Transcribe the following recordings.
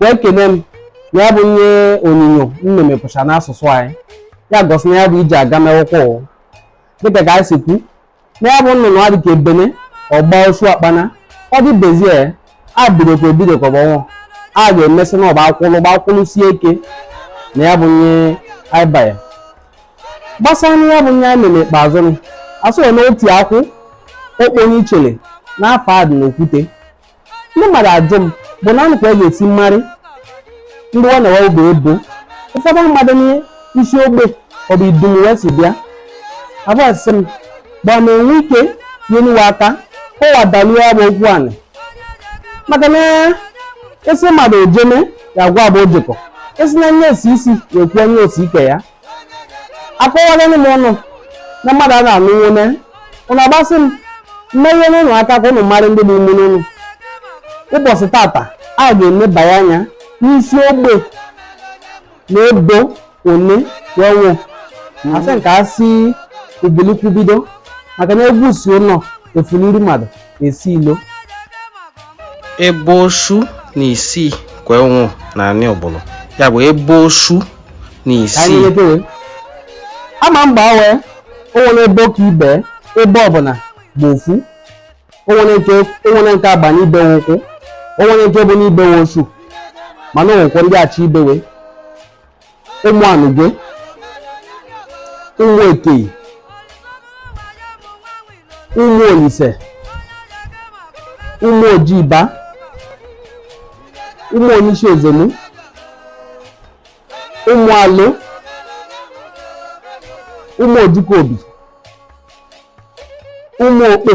wee kene m na ya bụ ihe onyinyo m na-emepụcha n'asụsụ anyị ya gosi na ya bụ iji aga mewụkwa ụwa dịka ka anyị si kwu na ya bụ nnụnụ a dịka ebene ọgba osu akpana ọ dị bezie a bidokwa ebidokwa bụ ọnwụ a ga-emesị na ọba akwụlụ gba akwụlụ sie ike na ya bụ ihe anyị banye gbasara na ya bụ ihe anyị mere ikpeazụ nụ asọghị na oti akụ okponye ichele n'afọ a dị n'okwute ndị mmadụ ajụ m bụ na anụ ka a ga-esi marị ndị ọ na-ewe bụ ebo ụfọdụ mmadụ dị n'isi ogbe ọ bụ idumu wee si bịa abụọ sị m gbaa m enwe ike nye nu we aka kọwa dalie ya bụ okwu anị maka na esi mmadụ ojeme ya gwa bụ ojekọ esi na nye esi isi ya ekwu onye osi ike ya akọwala m ụnụ na mmadụ a na-anụ nwune ụnụ agbasị m mmeghe n'ụnụ aka ka ụnụ mara ndị bụ ụmụnne ụnụ ụbọsị tata a ga-enebanye anya n'isi ogbe na ebo one wee nwe a sị nke a si ubili okwu bido maka na egwu si ụnọ efuliri mmadụ esi ilo ebe osu na isii ka e nwe na anị ọbụlụ ya bụ ebe osu na isii ama mgbe awe onwere ebe ka ibe ebe ọbụla bụ ofu onwere nke agba n'ibewe ukwu onwere nke bụ n'ibewe osu mana onwekwa ndị achọ ibewe ụmụ anụgwe ụmụ ekeyi ụmụ olise ụmụ ojiba ụmụ onyeisi ozenu ụmụ alụ ụmụ ojukobi ụmụ okpe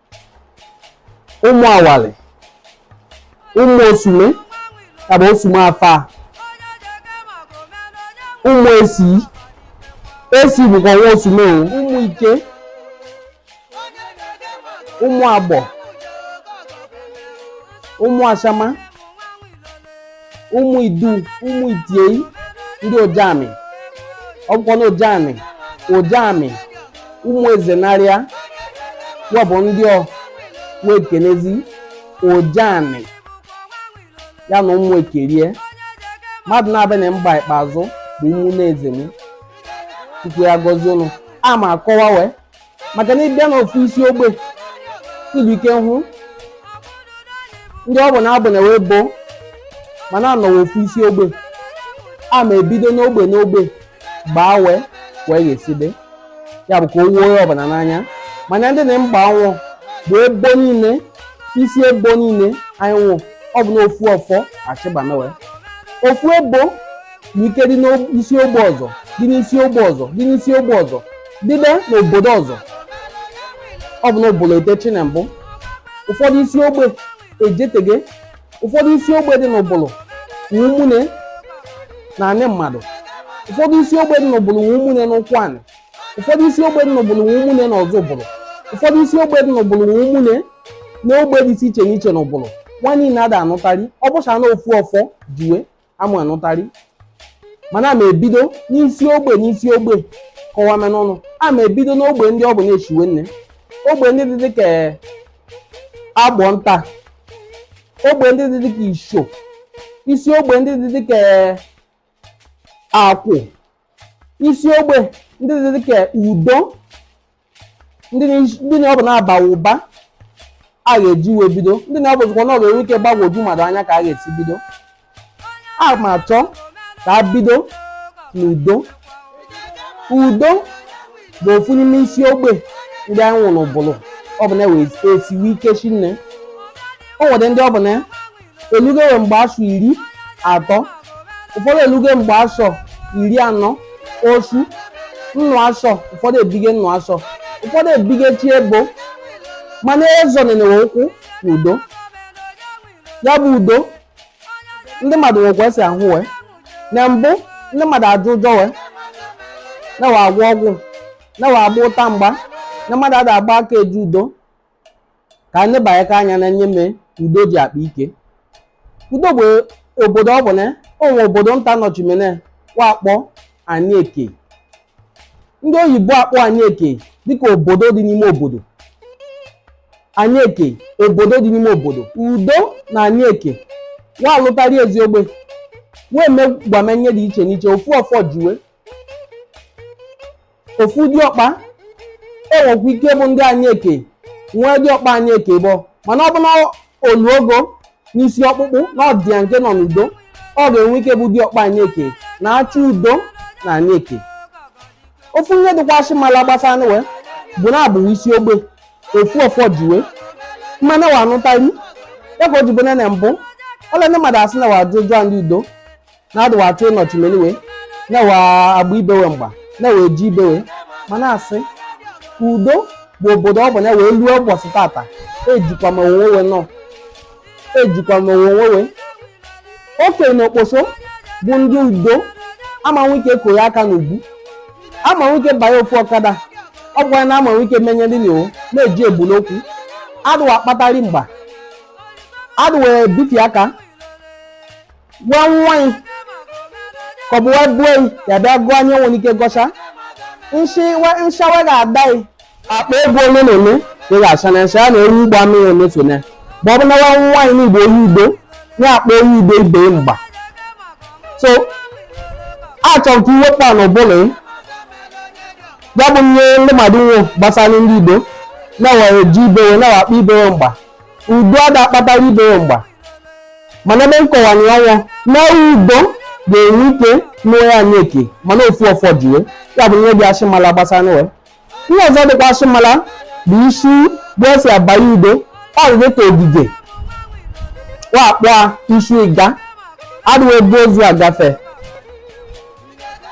ụmụ awalị ụmụ osume ya bụ osume afa ụmụ esi esi bụkwa nwa osume o ụmụ ike ụmụ agbọ ụmụ ashama ụmụ idu ụmụ itiei ndị ojamị ọ bụkwa na ojamị ojamị ụmụ ezenarịa ya bụ ndị ọ wee kenezi ojamị ya na ụmụ ekerie mmadụ na-abịa na mba ikpeazụ bụ ụmụ na-eze m chukwu ya gọzie ụnụ a ma akọwa wee maka na ịbịa n'ofu isi ogbe ilu ike hụ ndị ọ bụ na abụ na wee boo mana anọwa ofu isi ogbe a ma ebido n'ogbe n'ogbe gbaa wee wee ga-esibe ya bụ ka o woo onye ọbụla n'anya mana ndị na mgba anwụ bụ ebo niine isi ebo niine anyị nwụ ọ bụ na ofu ọfọ achịba mewe ofu ebo nwe ike dị n'isi ogbe ọzọ dị n'isi ogbe ọzọ dị n'isi ogbe ọzọ dịbe n'obodo ọzọ ọ bụ n'ụbụlụ etechi na mbụ ụfọdụ isi ogbe ejetege ụfọdụ isi ogbe dị n'ụbụlụ nwe ụmụnne na anị mmadụ ụfọdụ isi ogbe dị n'ụbụlụ nwe ụmụnne na ụkwụanị ụfọdụ isi ogbe dị n'ụbụlụ nwe ụmụnne na ọzụbụlụ ụfọdụ isi ogbe dị n'ụbụlụ nwe ụmụnne na ogbe dị iche n'iche n'ụbụlụ wa niile ada anụtarị ọ bụcha na ofu ọfọ ji we ama anụtarị mana ama ebido n'isi ogbe n'isi ogbe kọwame unu ama ebido n'ogbe ndị ọ bụ na-eshiwe nne ogbe ndị dị dịka agbọnta ogbe ndị dị dịka isho isi ogbe ndị dị dịka akwụ isi ogbe ndị dị dịka udo ndị na- ndị na ọ bụ na-abawe ụba a ga-eji wee bido ndị na ọ bụzikwa na ọ ga-enwe ike gbagwoju mmadụ anya ka a ga-esi bido a ma achọ ka a bido n'udo udo bụ ofu n'ime isi ogbe ndị anyị nwe n'ụbụlụ ọ bụ na wee esiwe ike shinne o nwere ndị ọ bụ na elugo we mgbe asọ iri atọ ụfọdụ elugo mgbe asọ iri anọ osu nnụ asọ ụfọdụ ebige nnụ asọ ụfọdụ ebige chi ebo mana ezo nenewe ụkwụ na udo ya bụ udo ndị mmadụ nwekwa esi ahụ wee na mbụ ndị mmadụ ajụ ụjọ we na we agwọ ọgwụ na we agba ụta mgba na mmadụ ada agba aka eje udo ka anyị banyeka anya n'ihe me udo ji akpa ike udo bụ obodo ọ bụ na o nwe obodo nta nọchimene wa akpọ anị eke ndị oyibo akpọ anị eke dịka obodo dị n'ime obodo anị eke obodo dị n'ime obodo udo na anị eke wa alụtarị ezi ogbe wee megwame ihe dị iche n'iche ofu ọfọ ji we ofu diọkpa enwekwa ike bụ ndị anị eke nwee diọkpa anị eke bọ mana ọ bụ na o luogo n'isi ọkpụkpụ na ọdịya nke nọ n'udo ọ ga-enwe ike bụ diọkpa anị eke na-achị udo na anị eke ofu ihe dịkwasị mala gbasanụ we bụ na abụghị isi ogbe ofu ọfọ ji we mana wa anụtarị ya ka o ji bụ na mbụ ọla ndị mmadụ asị na wa ajụ ụjọ ndị udo na-adịwa achọ ịnọchi meliwe na wa agba ibe we mgba na wee ji ibe we mana a sị udo bụ obodo ọ bụ na wee luo ụbọchị tata ejikwa m onwe we nọ ejikwa m onwe we okenye na okposo bụ ndị udo ama nwe ike kụ ya aka n'ugwu ama nwe ike banye ofu ọkada ọ bụkwa na ama nwe ike menye ndị n'iwu na-eji ebulu okwu adụwa akpatari mgba adụwa ebitụ aka gwa nwa gị ka ọ bụ wee bue gị ya bịa gụọ anyị nwere ike gọcha nshi we- nshawe ga-ada gị akpa ego ole na ole ka ị ga-acha na nsha ya na ewu ugbo amịghị emefu na ma ọ bụ na nwa nwaanyị n'igbo onye udo na-akpa onye udo ibe mgba so achọrọ ka iwepụ a n'ụbụrụ gị ya bụ ihe ndị mmadụ nwe gbasara ndị udo na we eji ibe we na-akpa ibe we mgba udo ada akpatara ibe we mgba mana ebe nkọwani ọnwụ na udo ga-enwe ike n'onwe ya anyị eke mana ofu ọfọ ji we ya bụ ihe dị ashịmala gbasanụ we ihe ọzọ dịkwa ashịmala bụ isi ebe esi abanye udo ọ dị dịka ogige wa kpọ isi ịga adịghị ebu ozu agafe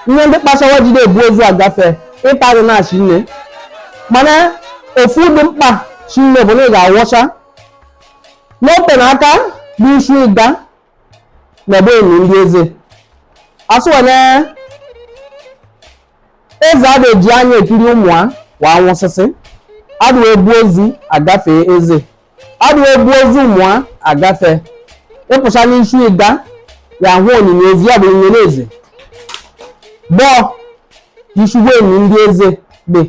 ihe ndị kpacha wa ji adị ebu ozu agafe ịtarị na shinne mana ofu dị mkpa shinne bụ na ị ga-awọcha n'ote na aka bụ isi ịga na ebe eni ndị eze asị we na eze adị eji anya ekiri ụmụ a wa anwụsịsị adụ we ebu ozu agafe eze adụ we ebu ozu ụmụ a agafe ịpụcha n'isi ịga ya hụ onyinye ezi ya bụ onyinye eze bọọ isi ebe eni ndị eze dị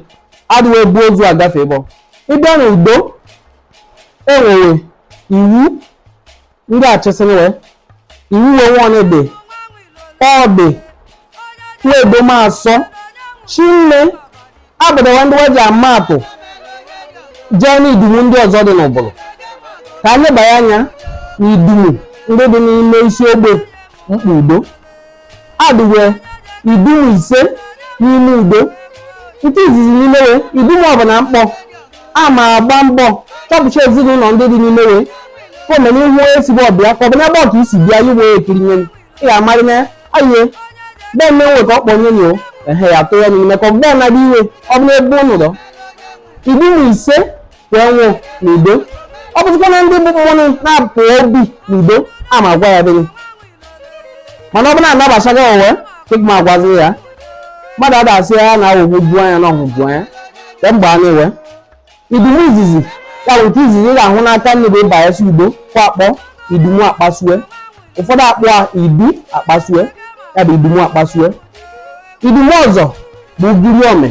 adụ we ebu ozu agafe bọ ịbịa na udo e nwere iwu ndị achịsịrị we iwu wee nwanebe ọ dị we edo ma asọ shinne abuedo wa ndị wa ji ama atụ jee n'idumu ndị ọzọ dị n'ubulu ka anyị banye anya n'idumu ndị dị n'ime isi ogbe mkpa udo adị we idumu ise n'ime udo nke izizi n'ime we idumu ọbụla m kpọ a ma agba mbọ chọpụcha ezinụlọ ndị dị n'ime we ka o mee na ihu ezigbo ọbịa ka ọ bụ na ebe ọka i si bịa i wee ekiri nye ị ga-amarị na aye bee mme nwe ka ọ kpọ nye nyo ehe ya tụọ ya n'ime ka ọbụla na-adị iwe ọbụla ebe n'udo idumu ise wee nwụọ n'udo ọ bụzikwa na ndị bụ mmụọ na-apụ obi n'udo a ma gwa ya dịghị mana ọ bụla anabachaghị owe ịgma agwazi ya mmadụ adasị ya na awụgbu bu anya na ọhụ bu anya ka mgbe a na-ewe idumu izizi ya bụ nke izizi ị ga-ahụ n'aka nni bụ ịba ya si udo ka a kpọ idumu akpasue ụfọdụ akpọ a idu akpasue ya bụ idumu akpasue idumu ọzọ bụ ugiri ome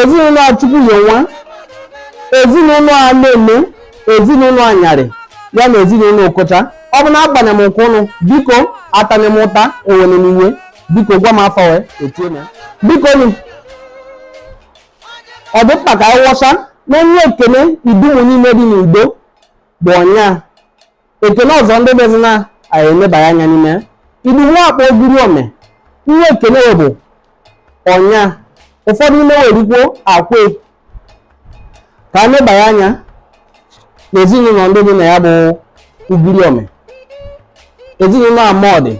ezinụlọ Chukwuyenwa ezinụlọ aneme ezinụlọ anyarị ya na ezinụlọ okocha ọ bụ na agbane m nke ụnụ biko atane m ụta ewene m iwe biko gwa m afa we etie m ya biko nụ ọ dị mkpa ka anyị wọcha na ihe ekene idumu niile dị n'udo bụ ọnya ekene ọzọ ndị bezi na anyị elebara anya n'ime idumu a akpọ ogiri ome ihe ekene bụ ọnya ụfọdụ ime we rikwo akwe ka anyị lebara anya n'ezinụlọ ndị dị na ya bụ ugiri ome ezinụlọ amodi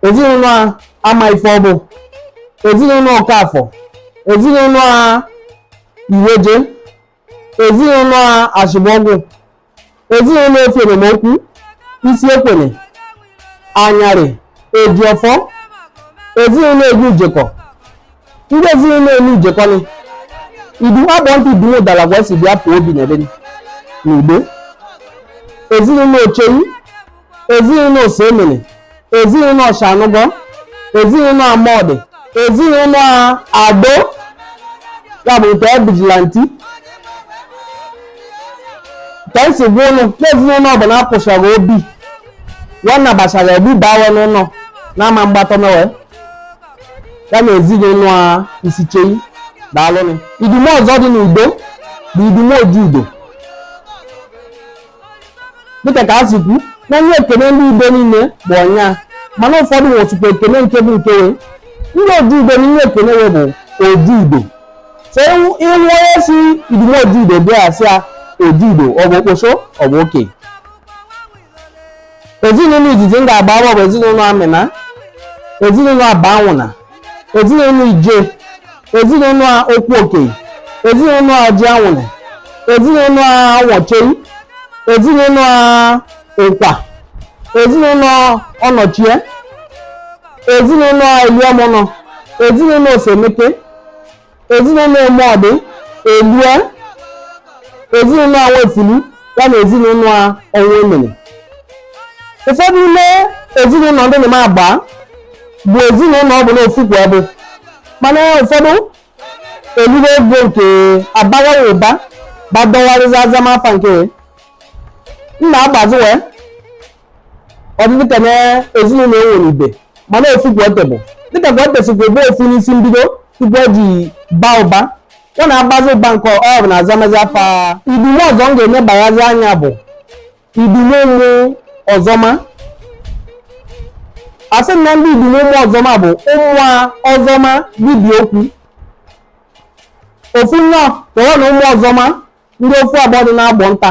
ezinụlọ amaifeọbụ ezinụlọ ọkafọ ezinụlọ iweje ezinụlọ ashibuọgwụ ezinụlọ efienemokwu isiekwene anyarị ejiọfọ ezinụlọ enujekọ ndị ezinụlọ enujekọ ni idumu agbọnta idumu ụdala ka wa si bịa pụọ obi na ebe n'igbo ezinụlọ ochei ezinụlọ osemene ezinụlọ ọshanụgọ ezinụlọ amodi ezinụlọ ado ya bụ nke vigilante ka m si gwa ụnụ na ezinụlọ ọbụla apụchara obi nwanna gbachara obi bawa n'ụlọ n'ama mgbatọ mewe ya na ezinụlọ a isichei daalụnụ idumu ọzọ dị n'udo bụ idumu oji udo dịka ka a si kwu na ihe ekene ndị udo niile bụ ọnya mana ụfọdụ nwezikwa ekene nke bụ nke we ndị oji udo na ihe ekene we bụ oji udo so ị hụ onye si idumu oji udo bịa asị ya oji udo ọ bụ okposo ọ bụ oke ezinụlọ izizi m ga-agba agba bụ ezinụlọ amina ezinụlọ abanwụna ezinụlọ ije ezinụlọ okwuokei ezinụlọ ọjịanwụna ezinụlọ nwaochei ezinụlọ ụkwa ezinụlọ ọnọchie ezinụlọ eluemụnọ ezinụlọ osemeke ezinụlọ Emọdị Elue ezinụlọ Nwefulu ya na ezinụlọ a Ọnwemene ụfọdụ n'ime ezinụlọ ndị m na-agba bụ ezinụlọ ọ bụ na ofu ka wa bụ mana ụfọdụ elugo ego nke abaghị ụba gbadọgharịza azama afa nke nna agbazi wee ọ dị dịka na ezinụlọ e nwere ibe mana ofu ka wa te bụ dịka wa te sikwa ebe ofu n'isi mbido tupu ọ ji baa ụba wa na-abazi ụba nke ọ bụ na azamazi afa idumu ọzọ m ga-enebanyezi anya bụ idumu ụmụ ọzọma asị na ndị idumu ụmụ ọzọma bụ ụmụ ọzọma dibịa okwu ofu nnọọ tọrọ na ụmụ ọzọma ndị ofu agbọ dị na Agbọnta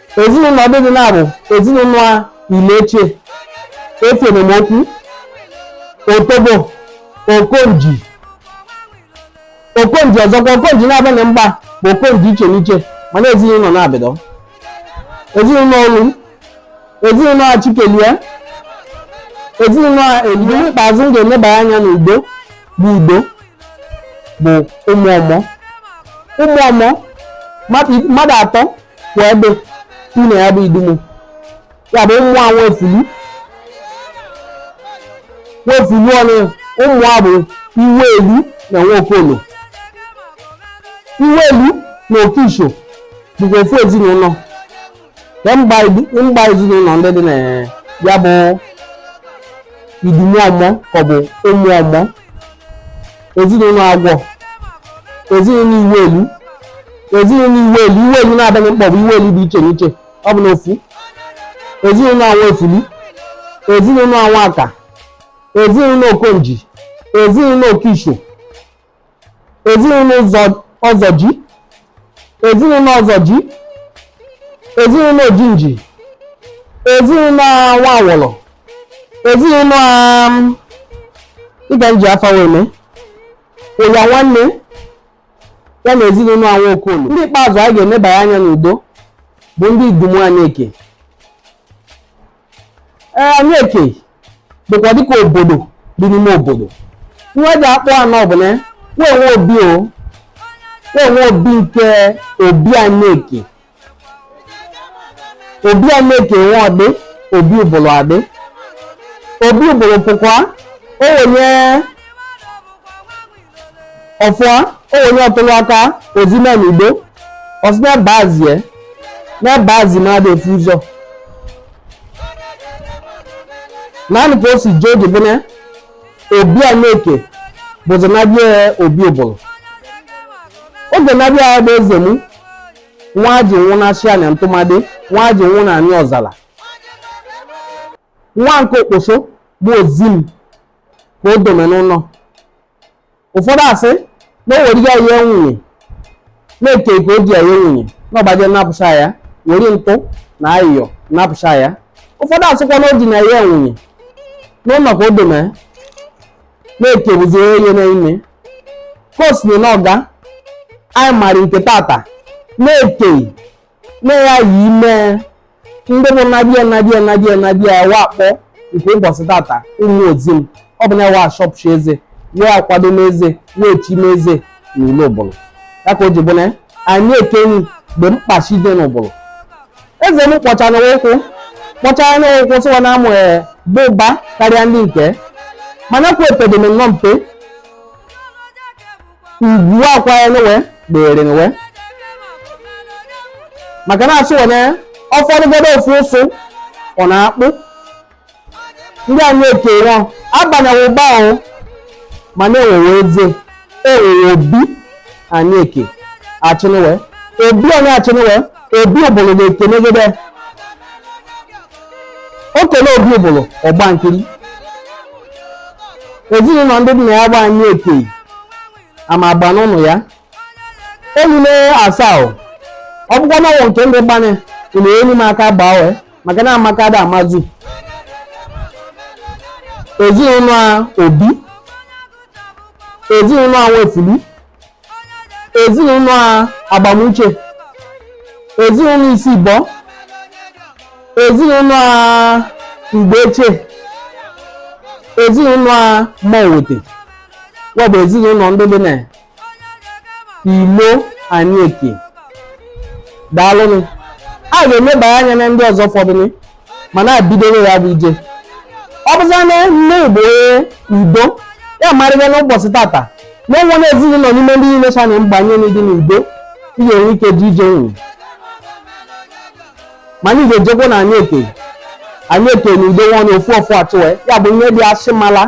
ezinụlọ ndị dị na ya bụ ezinụlọ a Ilechie Efenemokwu otobo okonji okonji ọzọkwa okonji naabị m gba bụ okonji iche n'iche mana ezinụlọ naabị dị ezinụlọ olu ezinụlọ a chikelie ezinụlọ a elie ikpeazụ m ga-eneba anya n'udo bụ udo bụ ụmụ ọmọ ụmụ ọmọ mmadụ atọ kwa dị ime ya bụ idumu ya bụ ụmụ a nwefulu nwefulu onye ụmụ a bụ Iwelu na Nwokolo Iwelu na Okisho bụkwa ofu ezinụlọ na m gba idu- m gba ezinụlọ ndị dị na ya bụ idumu ọmọ ka ọ bụ ụmụ ọmọ ezinụlọ agwọ ezinụlọ Iwelu ezinụlọ Iwelu Iwelu naabị m kpọ bụ Iwelu dị iche n'iche ọ bụ n'ofu ezinụlọ a Nwefulu ezinụlọ a Nwaka ezinụlọ okonji ezinụlọ okisho ezinụlọ Ọzọji ezinụlọ Ọzọji ezinụlọ ojinji ezinụlọ Nwawọlọ ezinụlọ um, ịga nji afa wee mee Ụyanwanne ya na ezinụlọ a Nwokolo ndị ikpeazụ a ga-enebanye anya n'udo bụ ndị Idumu Anị Ekei ee Anị Ekei bụkwa dịka obodo dị n'ime obodo nwa eji akpọ anọ bụ na wa nwe obi o wa nwe obi nke obi Anị Ekei obi Anị Ekei nwe ọ dị obi Ubulu adị obi Ubulu pụkwa o wenye ọfụa onye ọ tụlụ aka ozim n'udo ọ sị n'ebe azie n'ebe azi na-adị efu ụzọ naanị ka o si jee oge bụ na obi anieke bụzi nabịa obi ubulu oge nabịa ya bụ ezemu nwa ji nwụ na shia na ntụmadị nwa ji nwụ na anị ọzala nwa nke okposo bụ ozim ka o dome n'ụnọ ụfọdụ asị na o were ya nye nwunye n'eke ka o ji ya nye nwunye na ọgbaje napụcha ya were ntụ na ayịyọ napụcha ya ụfọdụ asịkwa na ọ dị na-enye nwunye n'ụnọ ka o dome n'eke bụzi ihe n'ime ka o si jee na ọga anyị mara nke tata n'eke na ya yi ime ndị bụ nabịa wa kpọ nke ụbọsị tata ụmụ ozim ọ bụ na wa shọpụcha eze wee akwado n'eze wee chime eze na ile ubulu ya ka o ji bụ na anieke mgbe mkpachi dị n'ubulu ezemu kpọchara ụkwụ kpọchara na ụkwụ sịwa na amụ bụ ụba karịa ndị eke mana kwa epedeme nnọọ mpe ugwu akwa ya n'uwe dịrị n'uwe maka na-asụ wene ọfọdụgodo ofu ụsụ ọ na-akpụ ndị anieke nwa abanyeghị ụba ahụ ma na-enwewe eze enwewe obi anieke achịnụwe obi onye achịnụwe obi ubulu ga-ekenegide o kene obi ubulu ọ gba nkiri ezinụnọ ndị dị na ya gba anieke ama agba n'ọnụ ya emume asaa o, ọ bụkwa na ọnwụ nke ndị gbanye ụlọ elu m aka gbaa wee maka na amaka dị amazu ezinụnọ obi ezinụnọ nwaefulu ezinụnọ agbamuche ezinụnọ isibọ ezinụnọ mgbeche ezinụnọ mowete wa bụ ezinụnọ ndị dị na ilo anieke daalụnụ a ga-enebanye anya na ndị ọzọ fọdụnụ mana e bidowe ya bụ ije ọ bụzi na ndị bụ udo ya marịga n'ụbọsị tata na enwe na ezinụnọ n'ime ndị niile so na mgbanye na ịdị n'udo ị ga-enwe ike ji ije nwụ ma anyị ga-ejekwa na anieke anieke na udo nwa na ofu ofu achụwe ya bụ ihe dị asị mala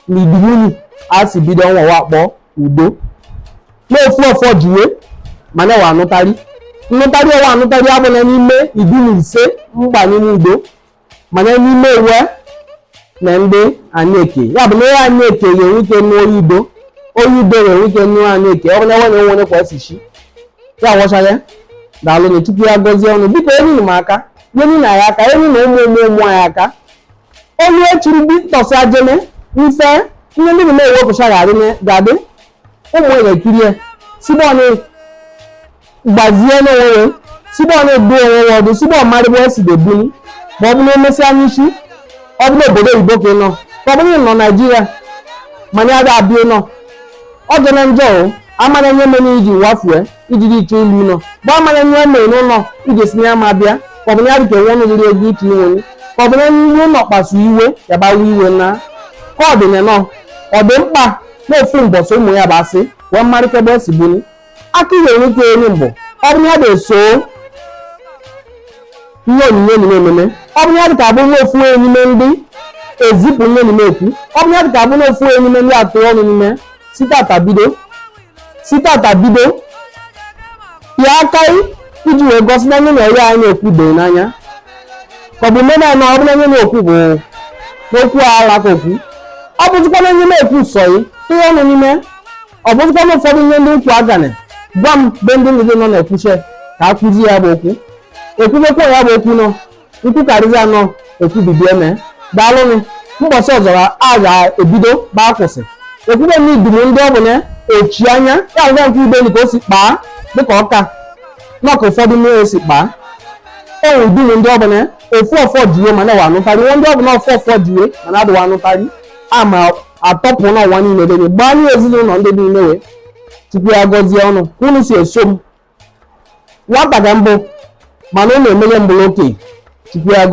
na idumu nị a si bido ọnwa wa kpọọ udo na ofu ọfọ jiwe mana we anụtarị nnụtarị ọwa anụtarị abụla n'ime idumu ise mgba n'ime udo mana n'ime ewe na ndị anyị eke ya bụ na ihe anyị eke ga-enwe ike nụọ oyi udo oyi udo ga-enwe ike nụọ anyị eke ọ bụ na enwe na enwe onye kwa si chi ya wọchara daalụ na chukwu ya gọzie unu biko nyeni m aka nyeni na ya aka nyeni ụmụ ụmụ ụmụ anyị aka onye chiri bi tọsị ajene mfe ihe ndị na-ewepụcha ga-adị ụmụ ya ekirie si ebe ọ nọ gbazie onwe ya si ebe ọ nọ dụ onwe ya ọdụ si ebe ọ marị ebe o si debuli ma ọ bụrụ emesịa n'isi ọ bụrụ obodo oyibo ka ị nọ ka ọ bụrụ ị nọ naijiria mana ya ga-abịa nọ ọ dị na njọ o amara ihe mere iji wafue iji dị iche ilu nọ bụ amara ihe o mere n'ụlọ iji si ya ma bịa ka ọ bụ na ya dịka nwa ọnụ riri ego iche inwe ka ọ bụ na iwe ụlọ kpasu iwe ya gbawa iwe na ka ọ dị na na ọ dị mkpa n'ofu mbọsị ụmụ ya bụ asị wee marịta ebe o si buli aka ihe nwoke eri mbụ ọ bụ ya dị eso ihe anyị na-eme eme ọ bụ ya dị ka abụ n'ofu n'ime ndị ezipụ ihe n'ime ekwu ọ bụ ya dị ka abụ n'ofu n'ime ndị atụ ọnụ n'ime site taata bido site taata bido ya aka iji wee gosi na onye na-eri anyị na-ekwu doo n'anya ka ọ bụ ime naanị ọ bụ na ihe a na-ekwu bụ okwu ala ka okwu ọ bụzikwa na ihe a na-ekwu sọ yị tụọ ọnụ n'ime ọ bụzikwa na ụfọdụ ihe ndị m kwu agana gwa m be ndị ndị nọ na-ekwuche ka a kụzi ya bụ okwu ekwubekwa ya bụ okwu na m kwu karịzi anọ ekwubibi eme daalụnụ mbọsị ọzọ a ga-ebido ebe a kwụsị ekwube m idumu ndị ọ bụ na echi anya ya agwa nke ibe ka o si kpaa dịka ọka maka ụfọdụ mmiri esi kpaa o nwere idumu ndị ọ bụ na ofu ọfọ jiwe mana we anụtarị nwe ndị ọ bụ na ofu ọfọ jiwe mana adị wa anụtarị ama atọpụ n'ụwa niile dị gbaa nye ezinụlọ ndị niile wee chukwu ya gọzie unu ka unu si eso m nwata ka m bụ mana unu emele m bụrụ okenye chukwu ya gọ-